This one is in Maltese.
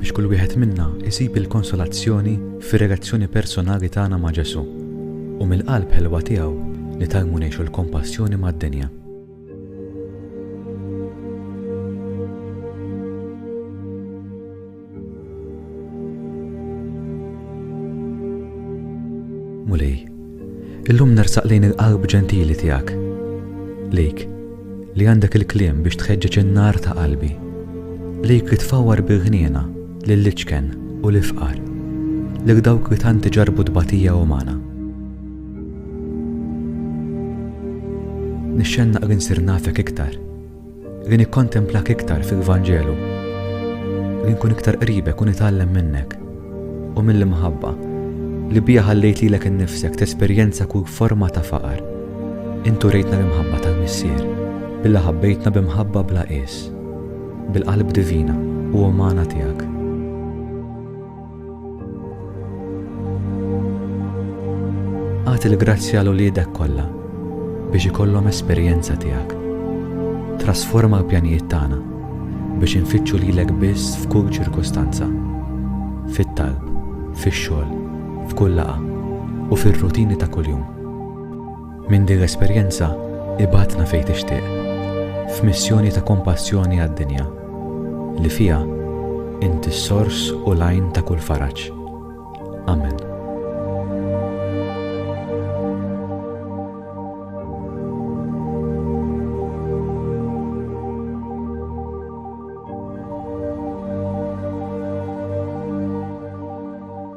biex kull wieħed minna jsib il-konsolazzjoni fir-relazzjoni personali tagħna ma' Ġesù u mill-qalb ħelwa tiegħu nitgħallmu ngħixu l-kompassjoni mad-dinja. Mulej, Illum nersaq lejn il-qalb ġentili tiegħek, lejk li għandek il-kliem biex tħeġġeġ in-nar ta' qalbi, lejk li tfawwar bil-ħniena lill-iċken u l-ifqar, lil dawk li tant iġarrbu tbatija umana. Nixxennaq li nsir nafek iktar, Li nikkontemplak iktar fil-Vanġelu. Li nkun iktar qribek u nitgħallem minnek u mill-imħabba li biha ħallejt lilek innifsek tesperjenza kull forma ta' faqar. Intu rejtna l-imħabba tal-Missier, billa ħabbejtna b'imħabba bla qies, bil-qalb divina u umana tiegħek. Għad il-grazzja l uliedek kollha biex ikollhom esperjenza tiegħek. Trasforma l-pjanijiet tagħna biex infittxu lilek biss f'kull ċirkustanza. Fit-talb, fix-xogħol, f'kull laqa u fir-rutini ta' kuljum. Minn din l-esperjenza, ibgħatna fejn tixtieq, f'missjoni ta' kompassjoni għad-dinja, li fiha Inti s-sors u l-għajn ta' kull faraġ. Amen.